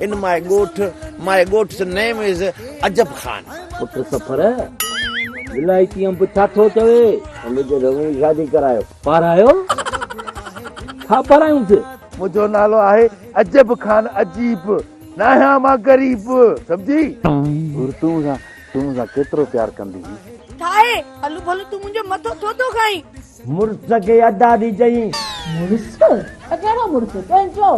ان my ڳوٺ، my ڳوٺ جو نيم از عجب خان. پٽ سفر، ولائتي انب ڇا ٿو چوي؟ انب جي رنگ جي شادي ڪرايو. پارايو؟ ڇا پارايونس؟ منهنجو نالو آهي عجب خان عجيب، ناهيان مان غريب، سمجهي؟ حور تون مون سان، تون مون سان ڪيترو پيار ڪندينء؟ ٺاهي، هلو ڀلو تون منهنجو مٿو ڇو ٿو کائين؟ مڙس کي ادا ڏي چئين. مڙس؟ ته ڪهڙو مڙس؟ تنهنجو؟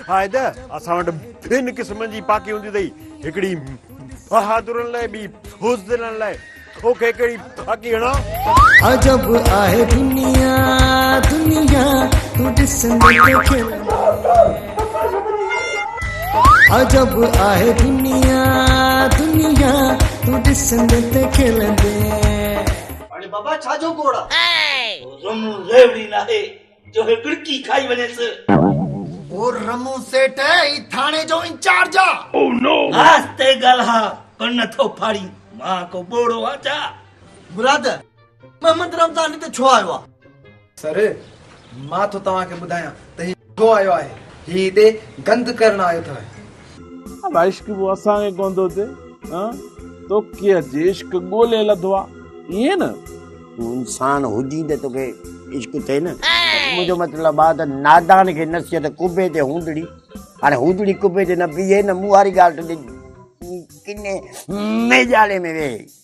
آهي ته اسان وٽ ٻن قسمن جي پاڪي هوندي اٿئي، هڪڙي بهادرن لاء، ٻي بزدلن لاء. توکي ڪهڙي پاڪي هڻان؟ عجب آهي دنيا دنيا تون ڏسندي ته کلندي عجب آهي دنيا دنيا تون ڏسندي ته کلندي. هاڻي بابا ڇا جو گوڙ آ. رمون ريوڙي ناهي جو هي ٻڙڪي کائي وڃيس. او رمون سيٽ هي ٿاڻي جو انچارج آ. آهستي ڳالهاء ڪن نه ٿو ڦاڙين مان ڪو ٻوڙو آ ڇا. مراد محمد رمضان هتي ڇو آيو آ. سر، مان ٿو توهان کي ٻڌايان ته هي ڇو آيو آهي. هي هتي گند ڪرڻ آيو اٿئي. ادا عشق به اسان کي ڪونه ٿو اچي هان توکي اچي عشق ڳولي لڌو آ ائين نه. تون انسان هجين ته توکي عشق ٿئي نه. منهنجو مطلب آ ته نادان کي نصيحت ڪبي تي هوندڙي هاڻي هوندڙي ڪبي تي نه بيهي نه مون واري ڳالهه ٽڏي ڪني ميڄاڙي ۾ ويهي.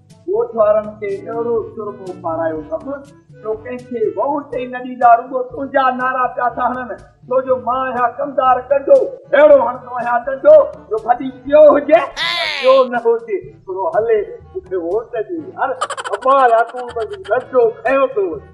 ڳوٺ وارن کي اهڙو سرمو پارايو اٿم جو ڪنهن کي ووٽ ئي نه ڏيندا رڳو تنهنجا نعرا پيا ٿا هڻن ڇو جو مان اهيا ڪمدار ڪنڊو اهڙو هڻندو آهيان ڏنڊو جو ڀلي پيو هجي ۽ پيو نه هجي ڇڙو هلي مون کي ووٽ ڏي يار ابا يا تون به ڏنڊو کنيو ٿو وڃين.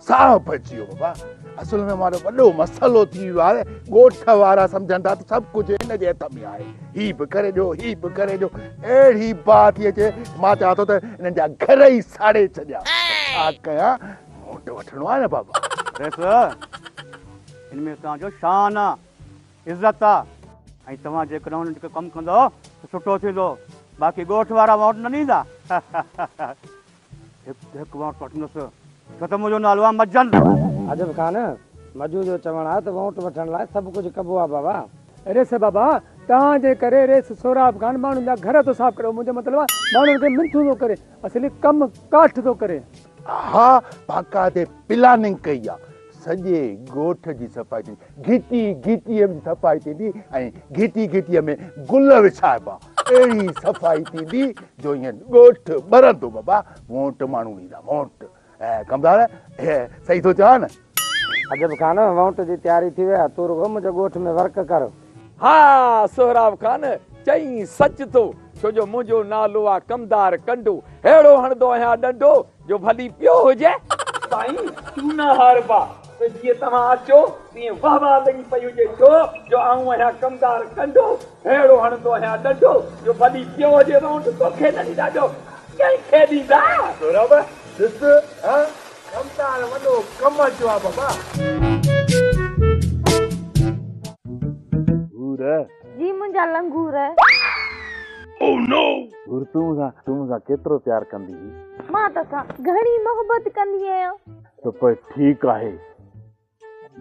ساهه پئجي ويو بابا اصل ۾ ماڻهو وڏو مسئلو ٿي ويو آهي ڳوٺ وارا سمجهن ٿا ته سڀ ڪجهه هن جي هٿ ۾ آهي هي به ڪري ڏيو هي به ڪري ڏيو اهڙي باهه ٿي اچي مان چاهيان ٿو ته انهن جا گهر ئي ساڙي ڇڏيا ڇا ڪيان موٽ وٺڻو آهي نه بابا رئيس هن ۾ توهان جو شان آهي عزت آهي ۽ توهان جيڪڏهن هن جو ڪم ڪندو ته سٺو ٿيندو باقي ڳوٺ وارا ووٽ نه ڏيندا هڪ هڪ ووٽ وٺندس. ڇو ته منهنجو نالو آهي مجن. عجب خان، مجو جو چوڻ آهي ته ووٽ وٺڻ لاء سڀ ڪجهه ڪبو آهي بابا. ريس بابا، توهان جي ڪري ريس سهراب خان ماڻهن جا گهر ٿو صاف ڪري. منهنجو مطلب آهي ماڻهن کي منٿون ٿو ڪري. اصلي ڪم ڪاٺ ٿو ڪري. ها باقاعدي پلاننگ ڪئي آهي. سڄي ڳوٺ جي صفائي ٿيندي، گهٽي گهٽيء جي صفائي ٿيندي ۽ گهٽي گهٽيء ۾ گل وڇائبا. اهڙي صفائي ٿيندي جو ائين ڳوٺ ٻرندو بابا، مون وٽ ماڻهو ايندا، مون وٽ. ڪمدار، صحيح ٿو چوان نه؟ عجب خان، وونٽ جي تياري ٿي وئي آهي، تون رڳو منهنجي ڳوٺ ۾ ورڪ ڪر. ها سهراب خان، چئين سچ ٿو، ڇو جو منهنجو نالو آهي ڪمدار ڪنڊو، ههڙو هڻندو آهيان ڏنڊو جو ڀلي پيو هجي. سائين تون نه هار با ته جيئن توهان اچو تيئن واه واه لڳي پئي هجي ڇو جو آئون آهيان ڪمدار ڪنڊو ههڙو هڻندو آهيان ڏنڊو جو ڀلي پيو هجي وونٽ توکي نه ڏيندا ٻيو ڪنهن کي ڏيندا. سورڀ ڏس ها ڪمدار وڏو ڪم اچيو آهي بابا. هو رهه. جي منهنجا لنگور. Oh no! گر تون مون سان تون مون سان ڪيترو پيار ڪندي هي؟ مان تو سان گهڻي محبت ڪندي آهيان. ته پوء ٺيڪ آهي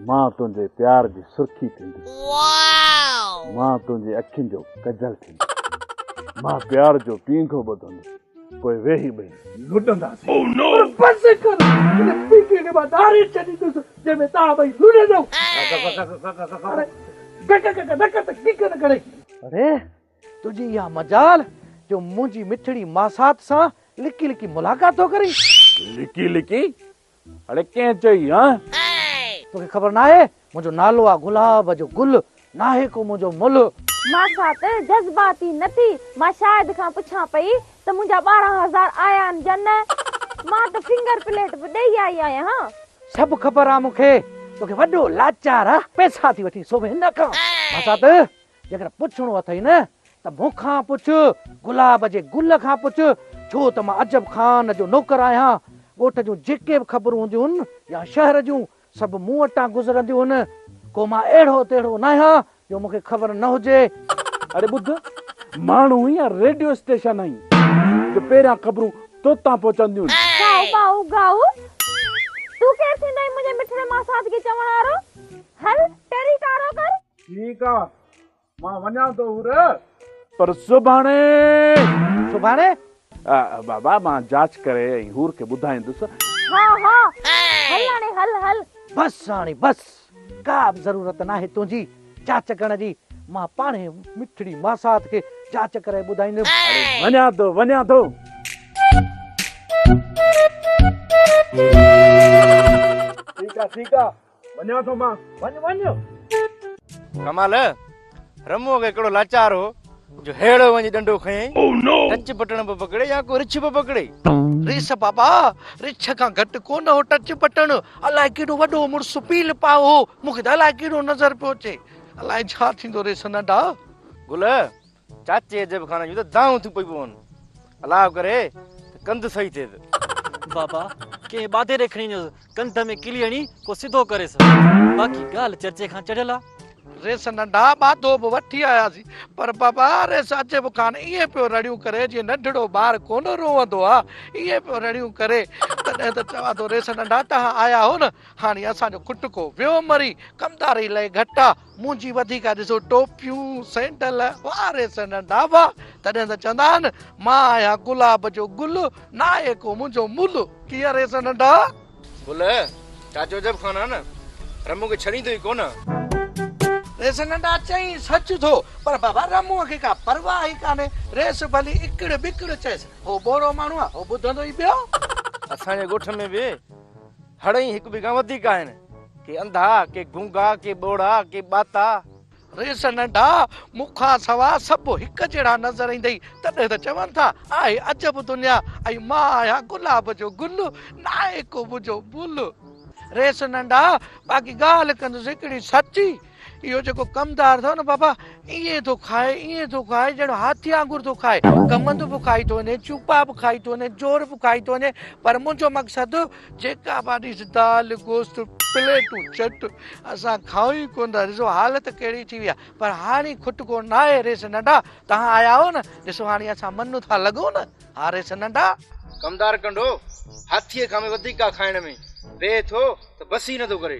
مان تنهنجي پيار جي سرخي ٿيندس. Wow! مان تنهنجي اکين جو ڪجل ٿيندس. مان پيار جو پينگهو ٻڌندس پوء ويهي ٻئي لڏنداسين. Oh no! پر بس ڪر هن پينگهي کي مان ڌاري ڇڏيندس. جنهن ۾ توهان ٻئي لڙندؤ. اڙي تنهنجي اها مجال جو منهنجي مٺڙي ماسات سان لڪي لڪي ملاقات ٿو ڪرين. لڪي لڪي؟ اڙي ڪنهن چئي هانء؟ توکي خبر ناهي منهنجو نالو آ گلاب جو گل ناهي ڪو منهنجو ملهه. مان سان ته جذباتي نه ٿي. مان شاهد کان پڇان پئي ته منهنجا ٻارهن هزار آيا آهن يا نه. مان ته فنگر پليٽ به ڏئي آئي آهيان ها. سڀ خبر آ مون کي توکي وڏو لاچار آ پئسا ٿي وٺين سو به هن کان. مان سان ته جيڪڏهن پڇڻو اٿئي نه ته مون کان پڇ گلاب جي گل کان پڇ ڇو ته مان عجب خان جو نوڪر آهيان ڳوٺ جون جيڪي به خبرون هونديون هن يا شهر جون سڀ مون وٽان گذرنديون هن. ڪو مان اهڙو تهڙو ناهيان جو مون کي خبر نه هجي. اڙي ٻڌ، ماڻهو يا ريڊيو اسٽيشن آهين جو پهريان خبرون توتان پهچنديون. ڪائو ڪائو ڪائو، تون ڪير ٿيندو منهنجي مٺڙي ماسات کي چوڻ وارو. هل، ٽيري ڪارو ڪر. ٺيڪ آ. مان وڃان ٿو هورء. پر سڀاڻي. سڀاڻي؟ بابا مان جاچ ڪري ۽ هور کي ٻڌائيندس. ها ها هل هاڻي هل هل. بس هاڻي بس. ڪا به ضرورت ناهي تنهنجي جاچ ڪرڻ جي. مان پاڻهي مٺڙي ماسات کي جاچ ڪرائي ٻڌائيندم. اڙي وڃان ٿو وڃان ٿو. ٺيڪ آ ٺيڪ آ. وڃان ٿو مان وڃ وڃ. ڪمال رمو اڳي ڪهڙو لاچار هو جو هيڙو وڃي ڏنڊو کنيئي ٽچ بٽڻ به پڪڙي يا ڪو رڇ به پڪڙي. ريس بابا رڇ کان گهٽ ڪونه هو ٽچ بٽڻ الائي ڪيڏو وڏو مڙس پيل پائو هو مون کي ته الائي ڪيڏو نظر پيو اچي الائي ڇا ٿيندو ريس ننڍا. گل چاچي عجب خان جون ته دانهون ٿيون پئي پون. الاء ڪري ته ڪنڌ صحيح ٿئيس. بابا ڪنهن ٻاڌيري کڻي وڃوس ڪنڌ ۾ ڪلي هڻي ڪو سڌو ڪريس. باقي ڳالهه چرچي کان چڙهيل آ. ريس ننڍا ٻاڌو به وٺي آياسين پر بابا ريس عجب خان ائين پيو رڙيون ڪري جيئن ننڍڙو ٻار ڪونه روئندو آ ائين پيو رڙيون ڪري تڏهن ته چوان ٿو ريس ننڍا توهان آيا هو نه هاڻي اسان جو کٽڪو ويو مري ڪمداري لئي گهٽ آ. منهنجي وڌيڪ ڏسو ٽوپيون سينڊل واري سندن ڊاڀا تڏهن ته چوندا آهن مان آهيان گلاب جو گل ناهي ڪو منهنجو مل ڪيئن ري سندن ڊا گل چاچو جب خان آهن رمون کي ڇڏيندو ئي ڪونه. ري سندن ڊا چئين سچ ٿو پر بابا رمون کي ڪا پرواهه ئي ڪانهي ريس ڀلي اڪڙ بڪڙ چئيس هو ٻوڙو ماڻهو آهي هو ٻڌندو ئي ٻيو. اسان جي ڳوٺ ۾ به هڙئي هڪ ٻئي کان وڌيڪ آهن. ڪي انڌا، ڪي گونگا، ڪي ٻوڙا، ڪي ٻاتا. ريس ننڍا، مون کان سوا سڀ هڪ جهڙا نظر ايندئي، تڏهن ته چون ٿا، آهي عجب دنيا، ۽ مان آهيان گلاب جو گل، ناهي ڪو منهنجو مل. ريس ننڍا، باقي ڳالهه ڪندس هڪڙي سچي. اهو جيڪو ڪمدار اٿئو نه بابا ائين ٿو کائي ائين ٿو کائي ڄڻ هاٿي وانگر ٿو کائي ڪمند به کائي ٿو وڃي چوپا به کائي ٿو وڃي جور به کائي ٿو وڃي پر منهنجو مقصد جيڪا به آڏيس دال گوشت پليٽون چٽ اسان کائون ئي ڪونه ٿا ڏسو حالت ڪهڙي ٿي وئي آهي پر هاڻي کٽ ڪو نه آهي ريس ننڍا تهان آيا آهو نه ڏسو هاڻي اسان من ٿا لڳون نه ها ريس ننڍا ڪمدار ڪنڊو هاٿيء کان به وڌيڪ ڪا کائڻ ۾ بيهه ٿو ته بس ئي نه ٿو ڪري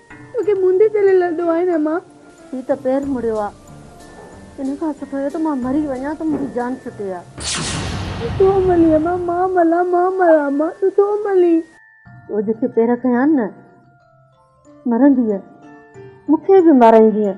توکي موندي تيل لڏو آهي نه مان. هي ته پير مڙيو آ. ان کان سٺو اهو ته مان مري وڃان ته منهنجي جان ڇٽي آ. تون ٿو ملين مان مان ملان مان مران مان تون ٿو ملين. تو جيڪي پير ڪيان نه مرندينء مون کي به مارائيندينء.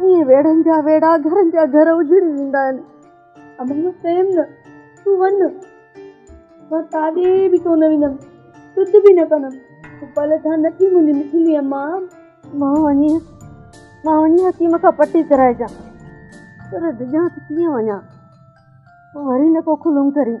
ائين ويڙهن جا ويڙها گهرن جا گهر اجڙي ويندا آهن. امان جو پريم نه، تون وڃ. مان ڪاڏي به ڪونه ويندم، سڌ به نه ڪندم. تون پل ٿان نه ٿي منهنجي مٺلي امان. مان وڃي، مان وڃي حڪيم کان پٽي ڪرائجان. پر ڊڄان ته ڪيئن وڃان. وري نه ڪو کلم ڪرين.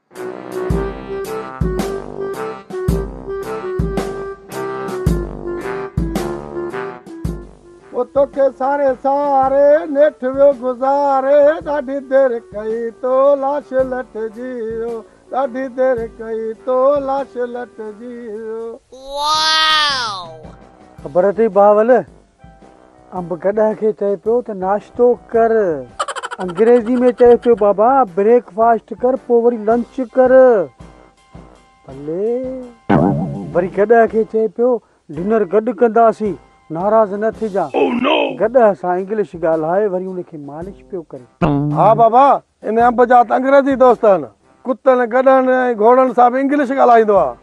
او توکي ساري ساري نيٺ ويو گذاري ڏاڍي دير ڪئي تو لاش لٽ جي ويو ڏاڍي دير ڪئي تو لاش لٽ جي ويو واو خبر اٿئي بهاول انب گڏهه کي چئي پيو ته ناشتو ڪر. انگريزي ۾ چئي پيو بابا بريڪ فاسٽ ڪر پوء وري لنچ ڪر. بلي. وري گڏهه کي چئي پيو ڊنر گڏ ڪنداسين ناراض نه ٿجان. گڏهه سان انگلش ڳالهائي وري ان کي مالش پيو ڪري. ها بابا ان انب جا ته انگريزي دوست آهن. ڪتن، گڏهن ۽ گهوڙن سان به انگلش ڳالهائيندو آهي.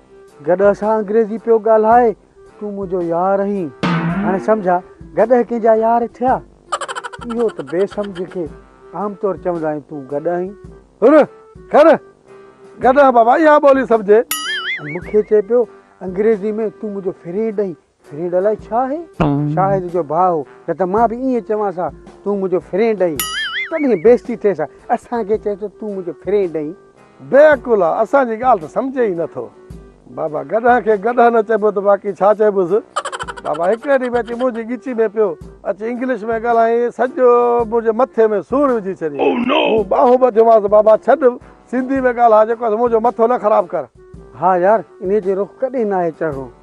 گڏهه سان انگريزي پيو ڳالهائي. تون منهنجو يار آهين. هاڻي سمجهه گڏهه ڪنهن جا يار ٿيا. اهو ته بي سمجهه کي عام طور چوندا آهن تون گڏهه آهين. هر، کر، گڏهه بابا اها ٻولي سمجهي. مون کي چئي پيو انگريزي ۾ تون منهنجو فرينڊ آهين. فرينڊ الائي ڇا آهي؟ شاهد جو ڀاء هو، نه ته مان به ائين چوانس ها، تون منهنجو فرينڊ آهين. تڏهن بيزتي ٿئيس ها، اسان کي چئي ٿو، تون منهنجو فرينڊ آهين. بي عقل آ، اسان جي ڳالهه ته سمجهي ئي نه ٿو. بابا، گڏهه کي گڏهه نه چئبو ته باقي ڇا چئبوس؟ بابا هڪڙي ڏينهن ۾ اچي منهنجي ڳچي ۾ پيو، اچي انگلش ۾ ڳالهائين، سڄو منهنجي مٿي ۾ سور وجهي ڇڏيائين. مون ٻانهون ٻڌيومانس، بابا ڇڏ، سنڌي ۾ ڳالهاء، جيڪو اٿ منهنجو مٿو نه خراب ڪر. ها يار، انهيء جو رخ ڪڏهن ناهي چڙهڻو.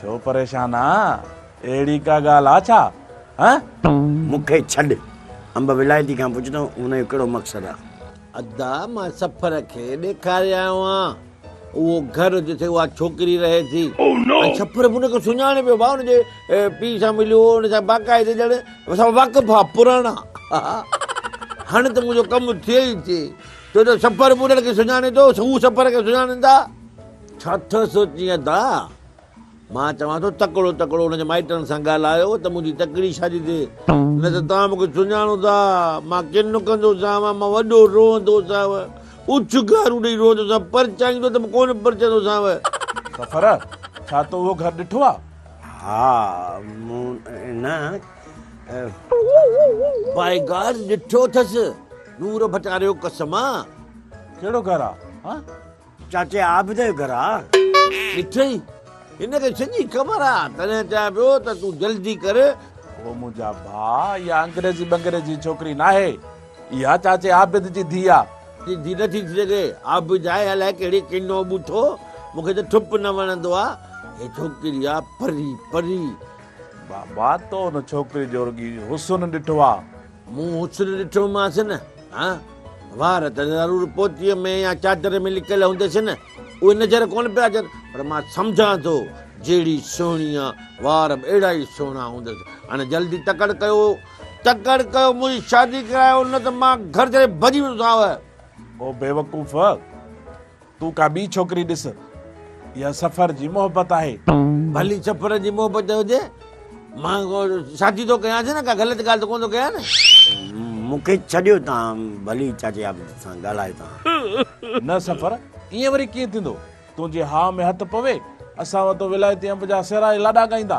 ڇو پريشان آهين؟ اهڙي ڪا ڳالهه آهي ڇا؟ هه؟ مون کي ڇڏ. انب ولايتي کان پڇ ته ان جو ڪهڙو مقصد آهي؟ ادا مان سفر کي ڏيکاري آيو آهيان اهو گهر جتي اها ڇوڪري رهي ٿي ۽ سفر به ان کي سڃاڻي پيو ڀاء ان جي پيء سان مليو هو ان سان باقاعدي ڄڻ اسان واقف آ پراڻا هاڻي ته منهنجو ڪم ٿئي ئي ٿئي ڇو جو سفر به انهن کي سڃاڻي ٿو هو سفر کي سڃاڻين ٿا ڇا ٿو سوچين ادا؟ مان چوان ٿو تڪڙو تڪڙو ان جي مائٽن سان ڳالهايو ته منهنجي تڪڙي شادي تي نه ته توهان مون کي سڃاڻو ٿا مان ڪن ڪندو سانوان مان وڏو روئندو سانو اڇ گارو ڏئي روئندو سان پرچائيندو ته ڪونه پرچندو سانو. سفر ڇا تو اهو گهر ڏٺو آ؟ ها مون نه باء گاڊ ڏٺو اٿس نور ڀٽاري جو قسم آ. ڪهڙو گهر آ؟ چاچي عابد جو گهر آ. ڏٺئي؟ هن کي سڄي خبر آ، تڏهن چيان پيو ته تون جلدي ڪر. هو منهنجا ڀاء، اها انگريزي ٻنگري جي ڇوڪري ناهي. اها چاچي عابد جي ڌيء آ. تنهنجي ڌيء نه ٿي ٿي سگهي. عابد آهي الائي ڪهڙي ڪنو ٻوٿو. مون کي ته ٺپ نه وڻندو آ. هي ڇوڪري آ پري، پري. بابا، تو ان ڇوڪري جو رڳي حسن ڏٺو آ. مون حسن ڏٺومانس نه ها، وار ته ضرور پوتيء ۾ يا چادر ۾ لڪل هونديس نه، اهي نظر ڪونه پيا اچن، پر مان سمجهان ٿو جهڙي سهڻي آ، وار به اهڙا ئي سهڻا هوندس. هن جلدي تڪڙ ڪيو، تڪڙ ڪيو، منهنجي شادي ڪرايو، نه ته مان گهر ڇڏي ڀڄي ويندوسانء. او بيوقوف! تون ڪا ٻي ڇوڪري ڏس. اها سفر جي محبت آهي. ڀلي سفر جي محبت هجي. مان شادي ٿو ڪيانس نه ڪا غلط ڳالهه ته ڪونه ٿو ڪيان نه. مون کي ڇڏيو تان ڀلي چاچي عابد سان ڳالهاء تان. نه سفر ائين وري ڪيئن ٿيندو. تنهنجي هاء ۾ هٿ پوي اسان وتو ولايتي انب جا سيرا لاڏا ڳائيندا.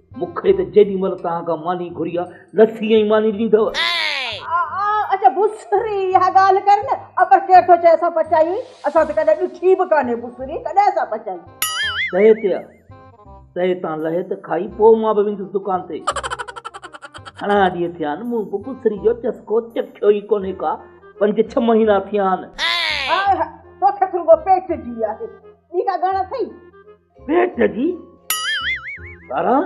مون کي ته جيڏي مھل توھان کان ماني گھري آ، لسي ۽ ماني ڏيندؤ. اچ بسري، اھا ڳالھه ڪر نه. اپر ڪير ٿو چئي اسان پچائي ھئي؟ اسان ته ڪڏھن ڏٺي به ڪانھي بسري، ڪڏھن اسان پچائي؟ تئي تي آ، تئي تان لھي ته کائي، پوء مان به ويندس دڪان تي. گھڻا ڏينھن ٿيا آھن، مون به بسري جو چسڪو چکيو ئي ڪونھي ڪا پنج ڇھه مھينا ٿيا آھن. ھاء ھاء، توکي ته رڳو پيٽ جي آھي، ٻي ڪا ڳڻ اٿئي؟ ميٽ جي؟ ٻاران!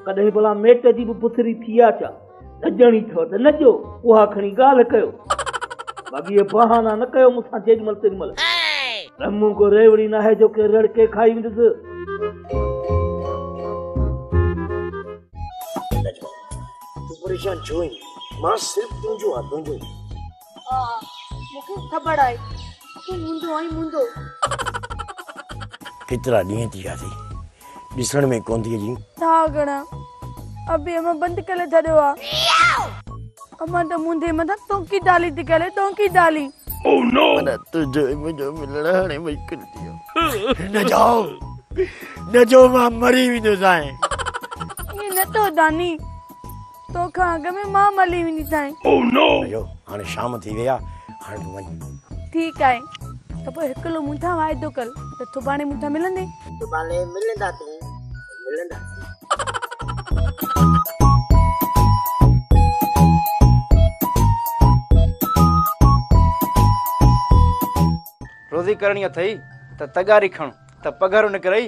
ڪڏهن ڀلا ميٽ جي به پٿري ٿي آ ڇا؟ نه ڄڻي ٿو ته نه جو اها کڻي ڳالهه ڪيو. باقي اهي بهانا نه ڪيو مون سان جيڏي مهل تيڏي مهل. ته مون ڪو ريوڙي ناهي جو ڪي رڙڪي کائي ويندس. تون پريشان ڇو ويندين؟ مان صرف تنهنجو آ تنهنجو. ها ها مون کي خبر آهي تون منهنجو آهين منهنجو. ڪيترا ڏينهن ٿي ويا اٿئي ڏسڻ ۾ ڪونه ٿي اچين. ٿا گهڻا ابي امان بند ڪري ڇڏيو آ. امان ته منهنجي مٿان ٽونڪي ڊالي ٿي ڪري ٽونڪي ڊالي. منا تنهنجو ۽ منهنجو ملڻ هاڻي مشڪل ٿي ويو. نه جو نه جو مان مري ويندوسانء. ائين نه ٿو داني. تو کان اڳ ۾ مان ملي ويندي سائين. او نو! ايو هاڻي شام ٿي وئي آ هاڻي تون وڃ. ٺيڪ آهي ته پوء هڪلو مون سان واعدو ڪر ته سڀاڻي مون سان ملندين. سڀاڻي ملندا تون ملندا. روزي ڪرڻي اٿئي ته تغاري کڻ ته پگهر نڪرئي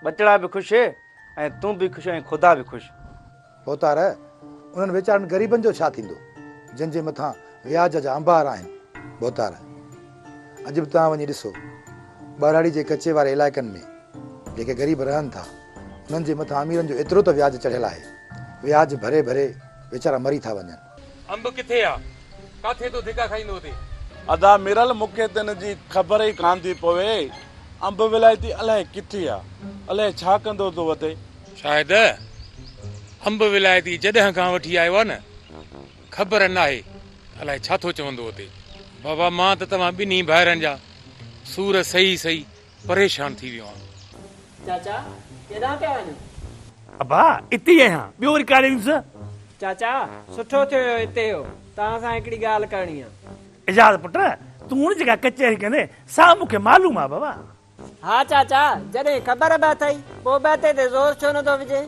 ٻچڙا به خوش ۽ تون به خوش ۽ خدا به خوش. ڀوتار، انهن ويچارن غريبن جو ڇا ٿيندو، جن جي مٿان وياج جا انبار آهن. ڀوتار، اڄ به توهان وڃي ڏسو، ٻهراڙي جي ڪچي واري علائقن ۾، جيڪي غريب رهن ٿا، انهن جي مٿان اميرن جو ايترو ته وياج چڙهيل آهي، وياج ڀري ڀري ويچارا مري ٿا وڃن. انب ڪٿي آ ڪاٿي تون ڌڪا کائيندو اتي. ادا ميرل مونکي ته ان جي خبر ئي ڪانه ٿي پوي انب ولايتي الائي ڪٿي آ الائي ڇا ڪندو ٿو اتي. شاهد انب ولايتي جڏهن کان وٺي آيو آ نه خبر ناهي ته الائي ڇا ٿو چوندو اتي. بابا مان ته توهان ٻنهي ڀائرن جا سور سهي سهي پريشان ٿي ويو آهيان. چاچا ڪيڏانهن پيا وڃو؟ ابا اتي ئي آهيان ٻيو وري ڪاڏي ويندس؟ چاچا سٺو ٿيو جو اتي اهو توهان سان هڪڙي ڳالهه ڪرڻي آهي. اعجاز پٽ تون جيڪا ڪچهري ڪندين سا مون کي معلوم آهي بابا. ها چاچا جڏهن خبر به اٿئي پوء به اتي تي زور ڇو نه ٿو وجهين؟